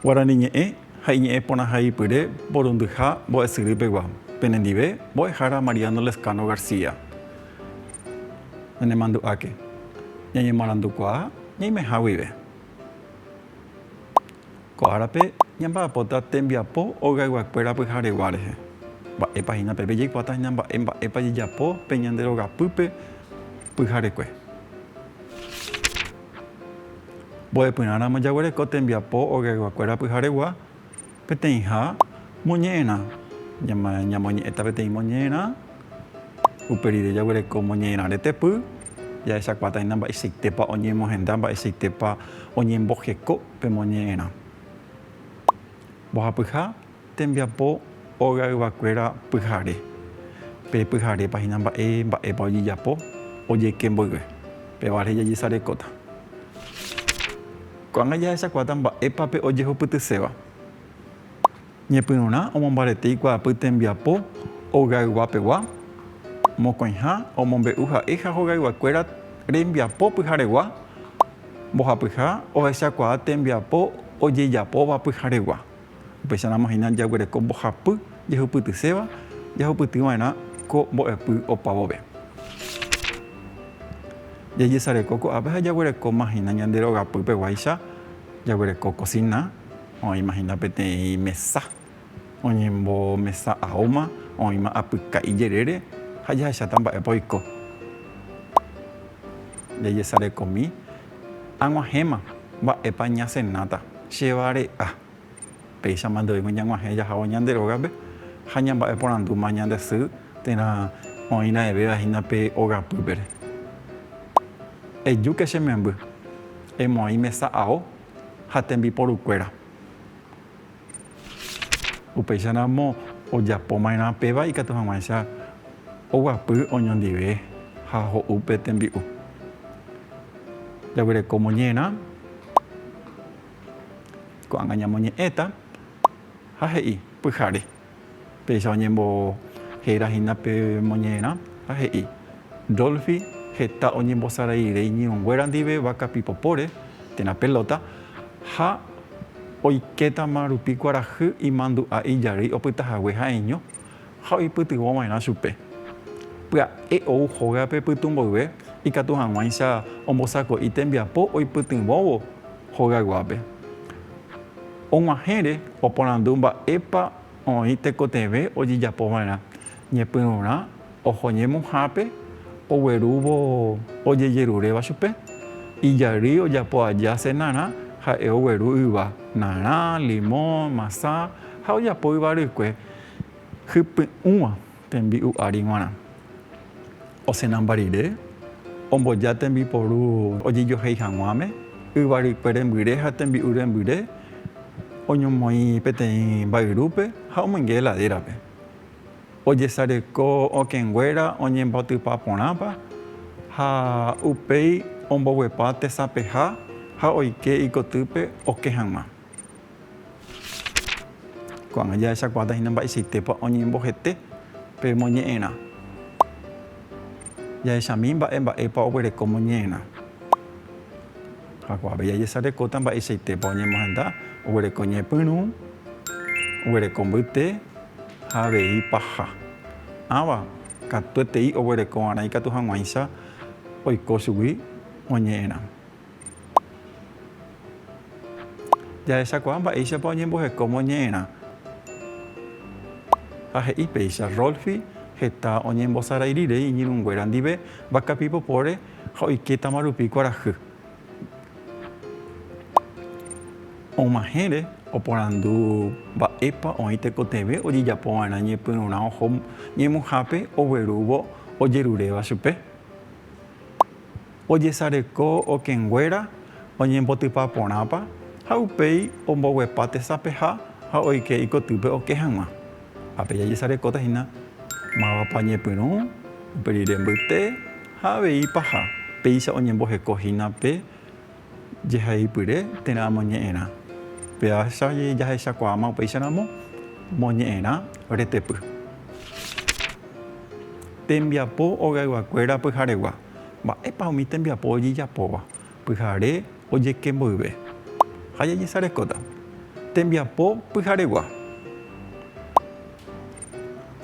Guarani ñe'ẽ ha iñe'ẽ porãhaipyre porundyha mbo'esyry pegua. Penendive, mbo'ehára Mariano Lezcano García. Ñanemandu'áke, ñañemoarandukuaa ñaimeha guive. Ko árape ñamba'apóta tembiapo hogayguakuéra pyharegua rehe. Mba'épa hína pepe jaikuaáta hína mba'e mba'épa jajapo pe ñande rogapýpe pyharekue. Mbo'epyrã ramo jaguereko tembiapo hogayguakuéra pyharegua Peteĩha moñe'ẽrã. Ñamoñe'ẽta peteĩ moñe'ẽrã, upe rire jaguereko moñe'ẽrã retepy, jahechakuaataína mba'eichaitépa oñemohenda, mba'eichaitépa oñembojeko pe moñe'ẽrã. Mbohapyha tembiapo óga yvakuéra pyhare. Pe pyharépa hína mba'e, mba'épa ojejapo, ojeke mboyve. Péva rehe jajesarekóta. Ko'ág̃a jahechakuaáta mba'épa pe ojehupytyséva. Ñepyrũrã omombarete ikuaapy tembiapo ogaygua-pegua, mokõiha omombe'u ha'e ha hogayguakuéra rembiapo pyharegua, mbohapyha ohechakuaa tembiapo ojejapóva pyharegua. Upéicharamo hína jaguereko mbohapy jehupytyséva jahupyty va'erã ko mbo'epy opavove. Jajesareko ko'ápe ha jaguerekóma hína ñande rogapypeguáicha, jaguereko kosina, oĩma hína peteĩ mesa oñembomesa aóma, oĩma apyka ijerére ha jahecháta mba'épa oiko. Jajesarekomi. Ag̃uahẽma, mba'épa ñasenáta? Chevare'a. Péichama ndoúigui ñag̃uahẽ jahávo ñande rógape ha ñamba'eporandúma ñande sy térã oĩra'evéva hína pe ogapýpere. Ejúke che memby, emoĩ mesa ao ha tembiporukuéra. Upéicha ramo ojapo maerã péva ikatu haguãicha oguapy oñondive ha ho'u pe tembi'u. Jaguereko moñerã, ko'ág̃a ñamoñe'ẽta ha he'i pyhare. Péicha oñembohéra hína pe moñe'ẽrã ha he'i, Dolphy heta oñembosaraiire iñirũnguéra ndive váka pipopóre térã pelóta ha oikétama rupi kuarahy imandu'a ijarýi opyta hague ha'eño ha oipytyvõ va'erã chupe. Pya'e ou hógape pytu mboyve ikatu hag̃uáicha ombosako'i tembiapo oipytyvõvo hóga guápe. Og̃uahẽre oporandu mba'épa oĩ tekotevẽ ojejapo va'erã ñepyrũrã oho ñemuhápe oguerúvo ojejeruréva chupe. Ijary ojapo aja senarã ha'e ogueru yva, narã, limõ, masa ha ojapo yvarykue hypy'ũva. Tembi'u ári g̃uarã. Osenamba rire, omboja tembiporu ojejohéi hag̃uáme, yvarykue rembyre ha tembi'u rembyre, oñomoĩ peteĩ mba'yrúpe ha omoinge heladérape. Ojesareko okẽnguéra oñemboatypa porãpa ha upéi omboguepa tesapeha ha oike ikotýpe okẽ hag̃ua. Ko'ág̃a jahechakuaáta hína mba'eichaitépa oñembohete pe moñe'ẽrã. Jahechami mba'e mba'épa oguereko moñe'ẽrã. Jakuaavéi jajesarekóta mba'eichaitépa oñemohenda, oguereko ñepyrũ, oguereko mbyte ha avei paha. Ãva katuetei oguerekova'erã ikatu hag̃uáicha oiko chugui oñe'ẽrã. Jahechakuaa mba'éichapa oñemboheko moñe'ẽrã. Ha he'i péicha, Rolfi heta oñembosarairirei iñirũnguéra ndive vaka pipopóre ha oikétama rupi kuarahy. Og̃uahẽre oporandu mba'épa oĩ tekotevẽ ojejapova'erã ñepyrũrã oho ñemuhápe oguerúvo ojeruréva chupe. Ojesareko okẽnguéra oñembotypa porãpa ha upéi omboguepa tesapeha ha oike ikotýpe oke hag̃ua. Ha pe jajesarekóta hína mávapa ñepyrũ, upe rire mbyte ha avei paha, péicha oñemboheko hína pe jehaipyre térã amoñe'ẽrã. Péacha jahechakuaáma upéicharamo moñe'ẽrã retepy. Tembiapo ogayguakuéra pyharegua. Mba'épa umi tembiapo ojejapóva pyhare ojeke mboyve ha jajesarekóta tembiapo pyharegua?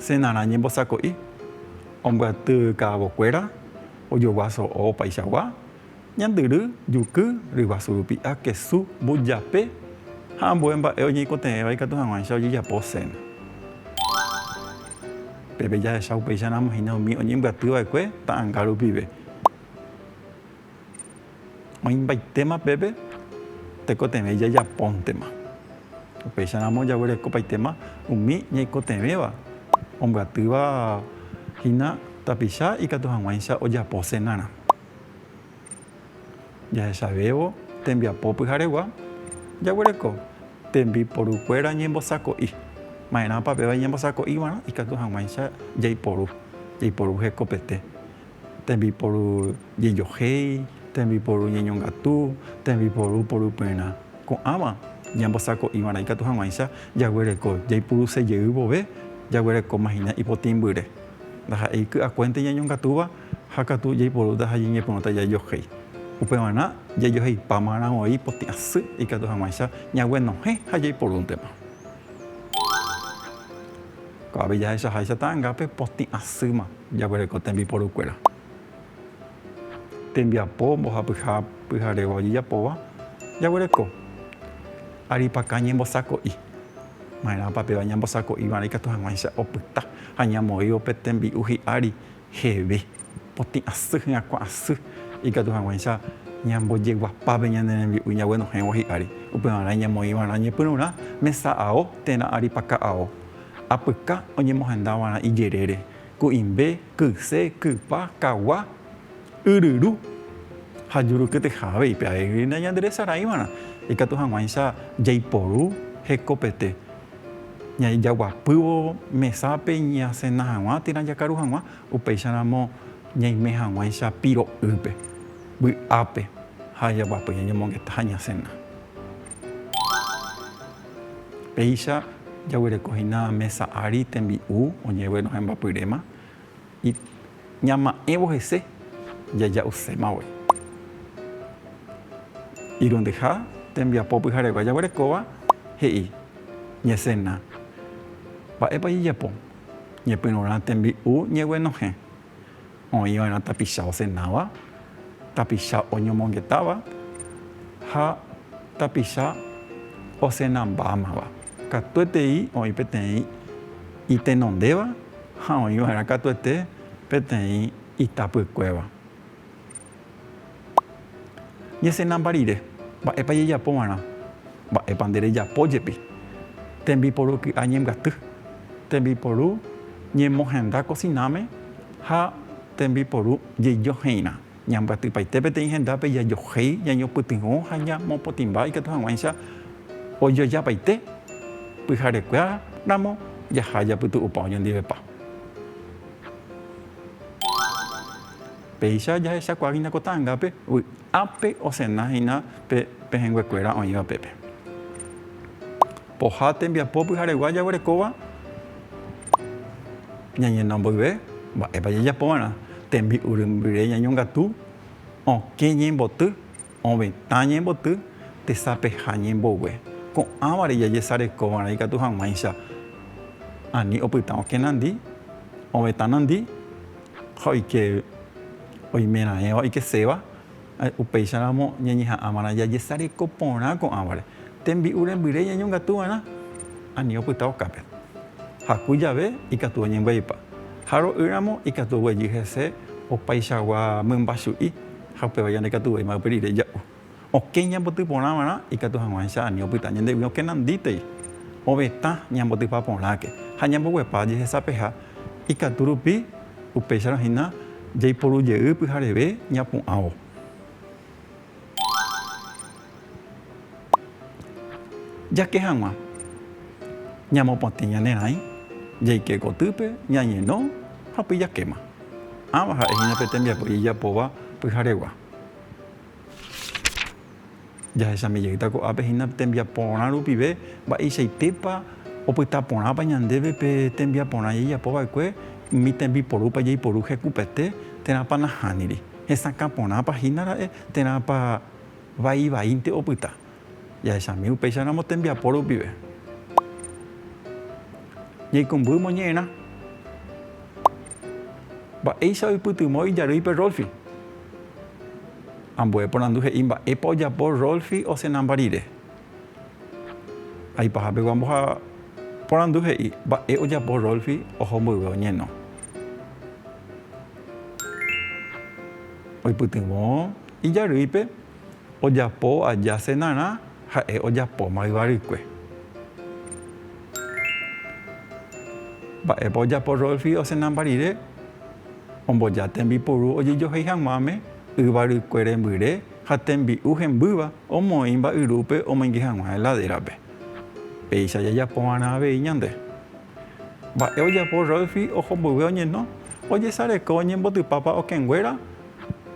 Senarã ñembosako'i ombyaty ka'avokuéra ojogua so'o opaichagua, ñandyry, juky, ryguasu rupi'a, kesu, mbujape ha ambue mba'e oñeikotevẽva ikatu hag̃uáicha ojejapo cena. Peve jahecha upéicha ramo hína umi oñembyaty va'ekue ta'anga rupive. Oĩmbaitéma pépe tekotevẽ jajapóntema. Upéicha ramo jaguerekopaitéma umi ñaikotevẽva ombyatýva hína tapicha ikatu hag̃uáicha ojapo senárã. Jahechavévo tembiapo pyharegua, jaguereko tembiporukuéra ñembosako'i. Ma'erãpa péva iñembosako'iva'erã ikatu hag̃uáicha jaiporu, jaiporu hekopete. Tembiporu jejohéi, tembiporu ñeñongatu, tembiporu poruperã. Ko'ãva ñambosako'iva'erã ikatu hag̃uáicha jaguereko jaipurusejey vove, jaguerekómahina ipotĩmbyre. Ndaha'éi ky'akuénte ñañongatúva Ha katu jaiporúta ha jañepyrũta jajohéi. Upevarã, jajoheipáma rãvoi potĩ asy ikatu hag̃uáicha ñaguenohẽ ha jaiporúntema. Ko'ápe jahechaháicha ta'angápe potĩ asýma jaguereko tembiporukuéra. Tembiapo mbohapyha pyharéva ojejapóva jaguereko. Aripakã ñembosako'i. Ma'erãpa péva ñambosako'iva'erã ikatu hag̃uáicha opyta ha ñamoĩvo pe tembi'u hi'ári. Jeve, potĩ asy hyakuã asy, ikatu hag̃uáicha ñambojeguapápe ñane rembi'u jaguenohẽvo hi'ári, upevarã iñamoĩvarã ñepyrũrã mesa ao térã ári paka ao, apyka oñemohendavarã ijerére, ku'imbe, kyse, kypa, kagua, yryru ha jurukyteha avei, pe aégrina ñanderesaraĩvarã, ikatu hag̃uáicha jaiporu hekopete. Ñajaguapývo mesápe ñasena hag̃ua térã jakaru hag̃ua, upéicharamo ñaime hag̃uáicha piro'ýpe, vy'ápe ha ajaguapy ñañomongeta ha ñasena. Péicha jaguerekohína mesa ári tembi'u oñeguerohẽmbapyréma. Y ñama'ẽvo hese jaja'usémagui. Irundyha tembiapo pyharegua jaguerekóva he'i, Ñesena, mba'épa jejapo ñepyrũrã tembi'u ñeguenohẽ, oĩva'erã tapicha osenáva, tapicha oñomongetáva ha tapicha osenambámava. Katuetei oĩ peteĩ itenondéva. ha oĩ va'erã katuete peteĩ itapykuéva. Ñesenamba rire, mba'épa jejapo va'erã? Mba'épa nde rejapo jepi? Tembiporu ky'a ñembyaty, tembiporu ñemohenda kosináme ha tembiporu jejoheirã. Ñambyatypaite peteĩ hendápe jajohéi, jañopytyvõ ha ñamopotĩmba ikatu hag̃uáicha ojojapaite pyharekue ramo jaha japytu'upa oñondivepa. Péicha jahechakuaa hína ko ta'angápe vy'ápe osena hína pe pehẽnguekuéra oĩva pépe. Pohã tembiapo pyharegua jaguerekóva ñañeno mboyve, mba'épa jajapova'erã? Tembi'urymbyre ñañongatu, okẽ ñemboty, ovetã ñemboty, tesapeha ñembogue. Ko'ãvare jajesarekova'erã ikatu hag̃uáicha ani opyta okẽ nandi, ovetã nandi ha oike oimeraẽva oikeséva Upéicharamo ñañeha'ãva'erã jajesareko porã ko'ãvare tembi'u rembyrére ñañongatuva'erã, ani opyta okápe. Jaku jave ikatu oñembya'ipa, ha ro'ýramo ikatu oguejy hese opaichagua mymba chu'i ha upéva jandekatuvéima ypy rire ja'u. Okẽ ñamboty porãva'erã ikatu hag̃uáicha ani opyta ñandegui okenandítei ovetã ñambotypa porãke ha ñamboguepa jehesapeha ikatu rupi. Upéicharõ hína jaiporu jey pyhareve ñapu'ãvo. Jake hag̃ua. Ñamopotĩ ñane rãi, jaike gotýpe, ñañeno ha upéi jakéma. Ãva ha'e hína pe tembiapo ijapóva pyharegua. Jahecháme jeýta ko'ápe hína tembiaporã rupive, mba'eichaitépa opyta porãpa ñandéve pe tembiaporã jajapo va'ekue, umi tembiporúpa jaiporu hekupete, térãpa nahániri, hesakã porãpa hína ra'e, térãpa vai vaínte opyta. Jahechami upéicharamo tembiapo rupive. Jaikũmby moñe'ẽrã. Mba'éicha oipytyvõ ijarýipe Rolfi. Ambue porandu he'i mba'épa ojapo Rolfi osẽnamba rire. Aipaha pegua mboha porandu he'i mba'e ojapo Rolfi oho mboyve oñeno. Oipytyvõ ijarýipe ojapo aja cenarã ha'e ojapóma yvarykue. Mba'épa ojapo Rolfi osẽnamba rire omboja tembipuru ojejohéi hag̃uáme. Yvarykue rembyre ha tembi'u hembýva omoĩ mba'yrúpe omoinge hag̃ua heladérape. Péicha jajapova'erã avei ñande. Mba'e ojapo Rolfi oho mboyve oñeno? Ojesareko oñembotypápa okẽnguéra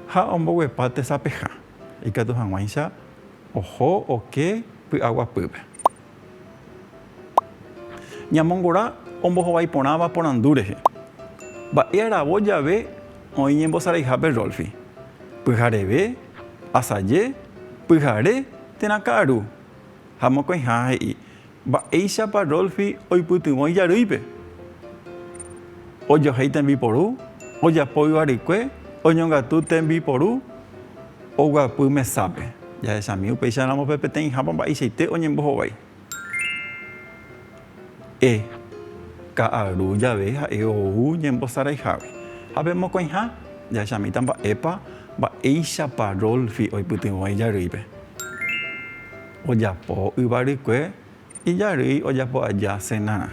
ha omboguepa tesapeha. Ikatu hag̃uáicha oho oke py'aguapýpe. Ñamongora ombohovái porãva porandu rehe. Mba'e aravo jave oĩ ñembosaraihápe Rolfi. Pyhareve, asaje, pyhare térã ka'aru. Ha mokõiha he'i, Mba'éichapa Rolfi oipytyvõ ijarýipe? Ojohéi tembiporu, ojapo yvarykue, oñongatu tembiporu. Oguapy mesápe. Jahechami upéicharamo pe peteĩhápa mba'eichaite oñembohovái. E. Ka'aru jave ha'e ou ñembosaraihágui. Ha pe mokõiha? Jahechamíta mba'épa, mba'éichapa Rolfi oipytyvõ ijarýipe. Ojapo yvarykue Ijarýi ojapo aja sena.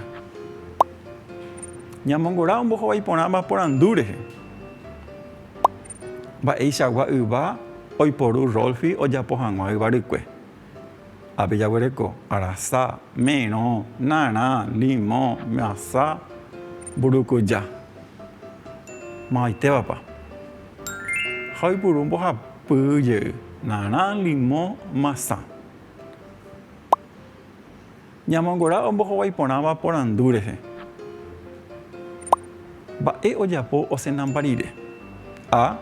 Ñamongora ombohovái porãva porandu rehe. Mba'eichagua yva oiporu Rolfi ojapo hag̃ua yva rykue. Ápe jaguereko, arasa, merõ, narã, limõ, myasa, mburukuja. Mavaitevapa. Ha oipuru mbohapy jey, narã, limõ, masã. Ñamongora ombohovái porãva porandu rehe. Mba'e ojapo osenamba rire? A.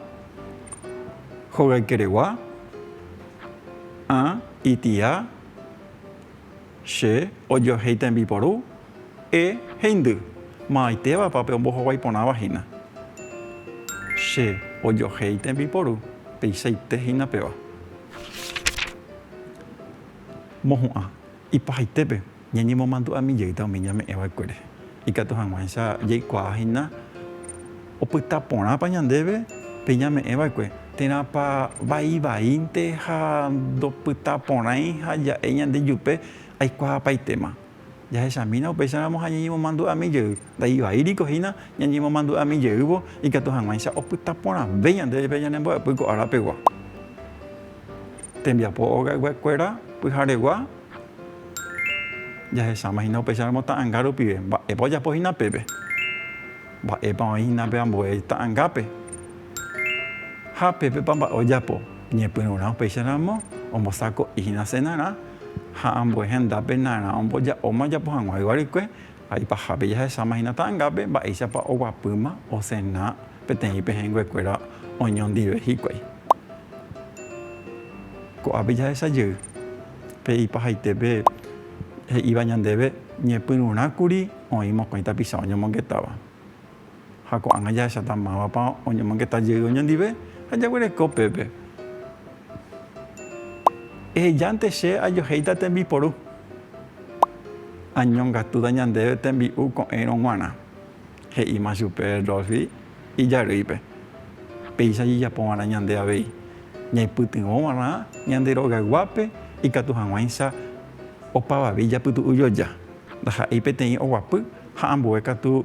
Hogaykeregua A. Itia Che ojohéi tembiporu E. Heindy Maymaitevapa pe ombohovái porãva hína? Che ojohéi tembiporu peichaite hína peva. mohu'ã ipahaitépe ñañemomandu'ami jeýta umi ñame'ẽ va'ekuére, ikatu hag̃uáicha jaikuaa hína opyta porãpa ñandéve pe ñame'ẽ va'ekue, térãpa vaivaínte ha ndopyta porãi ha ja'e ñande jupe aikuaapaitéma. Jahechamína upéicharamo ha ñañemomandu'ami jey. Ndaivai riko hína ñañemomandu'ami jeývo ikatu hag̃uáicha opyta porãve ñande jepe ñane mbo'epy ko ára pegua. Tembiapo ogaygue kuéra pyharegua jahecháma hína upéicharamo ta'anga rupive. Mba'épa ojapo hína pépe? Mba'épa oĩ hína pe ambue ta'angápe? Ha pépepa mba'e ojapo? Ñepyrũrã upéicharamo ombosako'i hína senarã. Ha ambue hendápe narã omboja'óma ojapo hag̃ua yva rykue, ha ipahápe jahesáma hína ta'angápe mba'éichapa oguapýma osena peteĩ pehẽnguekuéra oñondive hikuái. Ko'ápe jahecha jey, pe ipahaitépe he'íva ñandéve ñepyrũrã kuri oĩ mokõi tapicha oñomongetáva. ha ko'ág̃a jahecháta mávapa oñomongeta jey oñondive ha jaguereko pépe. Ehejánte che ajohéita tembiporu, añongatúta ñandéve tembi'u ko'ẽrõ g̃uarã, he'íma chupe Rolfi ijarýipe. Péicha jejapova'erã ñande avei, ñaipytyvõva'erã ñande rogayguápe ikatu hag̃uáicha opavave ijapytu'u joja, ndaha'éi peteĩ oguapy ha ambue katu